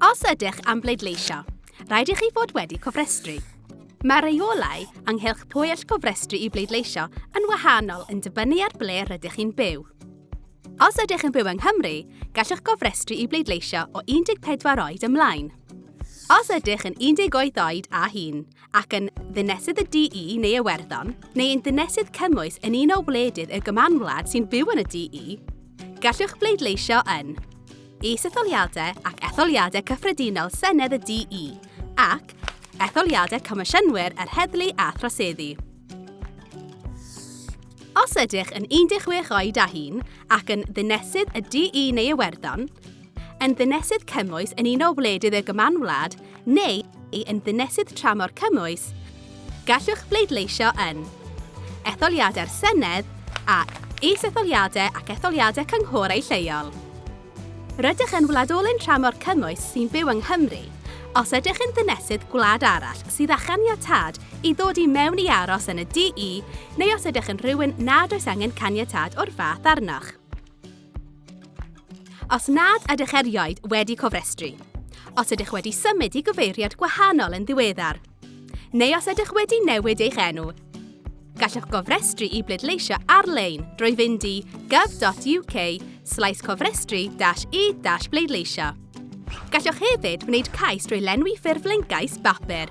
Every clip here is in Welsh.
Os ydych am bleidleisio, rhaid i chi fod wedi cofrestru. Mae rheolau ynghylch pwy all gofrestru i bleidleisio yn wahanol yn dibynnu ar ble rydych chi'n byw. Os ydych yn byw yng Nghymru, gallwch gofrestru i bleidleisio o 14 oed ymlaen. Os ydych yn 18 oed a hun ac yn ddinesydd y DE neu Iwerddon, neu yn ddinesydd cymwys yn un o wledydd y Gymanwlad sy'n byw yn y DE, gallwch bleidleisio yn Is-etholiadau ac Etholiadau Cyffredinol Senedd y DE, ac Etholiadau Comisiynwyr yr Heddlu a Throseddu. Os ydych yn 16 oed a hŷn ac yn Ddinesydd y DE neu Iwerddon, yn Ddinesydd Cymwys yn un o wledydd y Gymanwlad neu yn ddinesydd tramor cymwys, gallwch bleidleisio yn etholiadau'r Senedd a is-etholiadau ac etholiadau cynghorau lleol. Rydych yn wladolyn tramor cymwys sy'n byw yng Nghymru, os ydych yn ddinesydd gwlad arall sydd â chaniatâd i ddod i mewn i aros yn y DE neu os ydych yn rhywun nad oes angen caniatâd o'r fath arnoch. Os nad ydych erioed wedi cofrestru, os ydych wedi symud i gyfeiriad gwahanol yn ddiweddar, neu os ydych wedi newid eich enw, gallwch gofrestru i bleidleisio ar-lein drwy fynd i gov.uk slaes cofrestru e bleidleisio. Gallwch hefyd wneud cais drwy lenwi ffurflen gais bapur.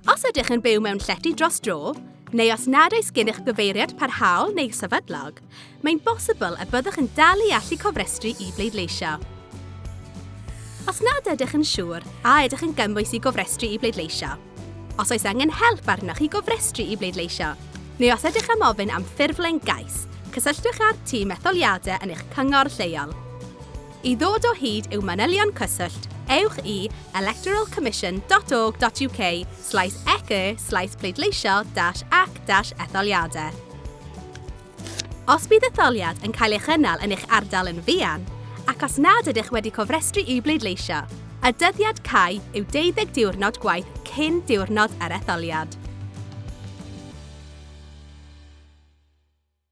Os ydych yn byw mewn llety dros dro, neu os nad oes gennych gyfeiriad parhaol neu sefydlog, mae'n bosibl y byddwch yn dal i allu cofrestru i bleidleisio. Os nad ydych yn siŵr a ydych yn gymwys i gofrestru i bleidleisio, os oes angen help arnoch i gofrestru i bleidleisio, neu os ydych am ofyn am ffurflen gais, cysylltwch â'r tîm etholiadau yn eich cyngor lleol. I ddod o hyd i'w manylion cyswllt, ewch i electoralcommission.org.uk slaes ec slaes pleidleisio ac etholiadau. Os bydd etholiad yn cael ei chynnal yn eich ardal yn fuan, ac os nad ydych wedi cofrestru i'w bleidleisio, y dyddiad cau yw 20 diwrnod gwaith cyn diwrnod yr etholiad.